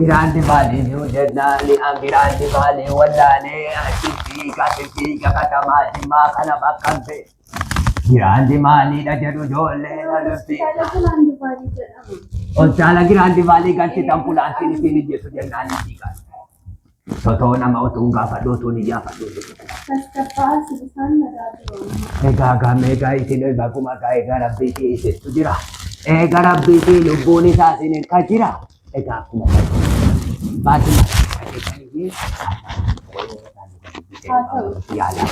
Giraandi maalii jiru jennaani an giraandi maalii wallaalee achitti gatitti gafatamaa jimmaa kana bakkan ta'e. Giraandi maaliidha jedhu ijoollee lolufti. Hospitaala giraandi maalii galchitan fulaantiin isiin ijjeesu jennaan ni dhiigaan. Sotoo nama utuun gaafadhu utuun hin yaafadhu. Egaa gamee gaa isin egaa kuma gaa egaa rabbii fi isittu jira. Egaa rabbii fi lubbuun isaa isin irka jira. Egaa akkuma baadiyyaa keessatti Haa ta'u. yaalaa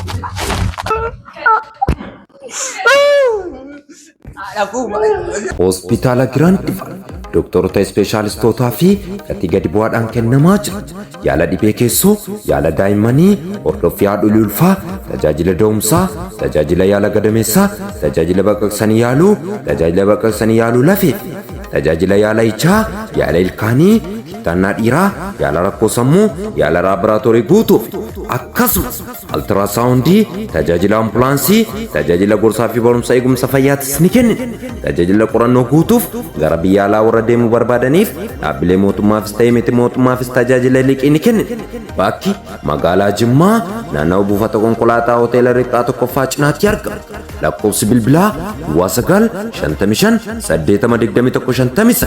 Hospitaala Giraandifa doktoroota ispeeshaalistootaa fi gatii gadi bu'aadhaan kennamaa jira. Yaala dhibee keessoo, yaala daa'immanii, hordoffii haadholii ulfaa, tajaajila da'umsaa, tajaajila yaala gadameessaa, tajaajila baqaqsanii yaaluu, tajaajila baqaqsanii yaaluu lafee fi tajaajila yaala ichaa, yaala ilkaanii, kittaannaa dhiiraa, yaala rakkoo sammuu, yaala laaboraatoorii guutuu fi akkasumas Altiraasawundii, tajaajila ambulaansii, tajaajila gorsaa fi barumsa eegumsa fayyaatis ni kennina. Tajaajila qorannoo guutuuf gara biyya alaa warra deemuu barbaadaniif dhaabbilee mootummaafis ta'ee miti mootummaafis tajaajila liqii ni kennina. Bakki magaalaa Jimmaa naannawa buufata konkolaataa hoteela Riqaa tokkoffaa cinaatti argama. Lakkoofsi bilbilaa Duwwaa 9 55 80 21 59.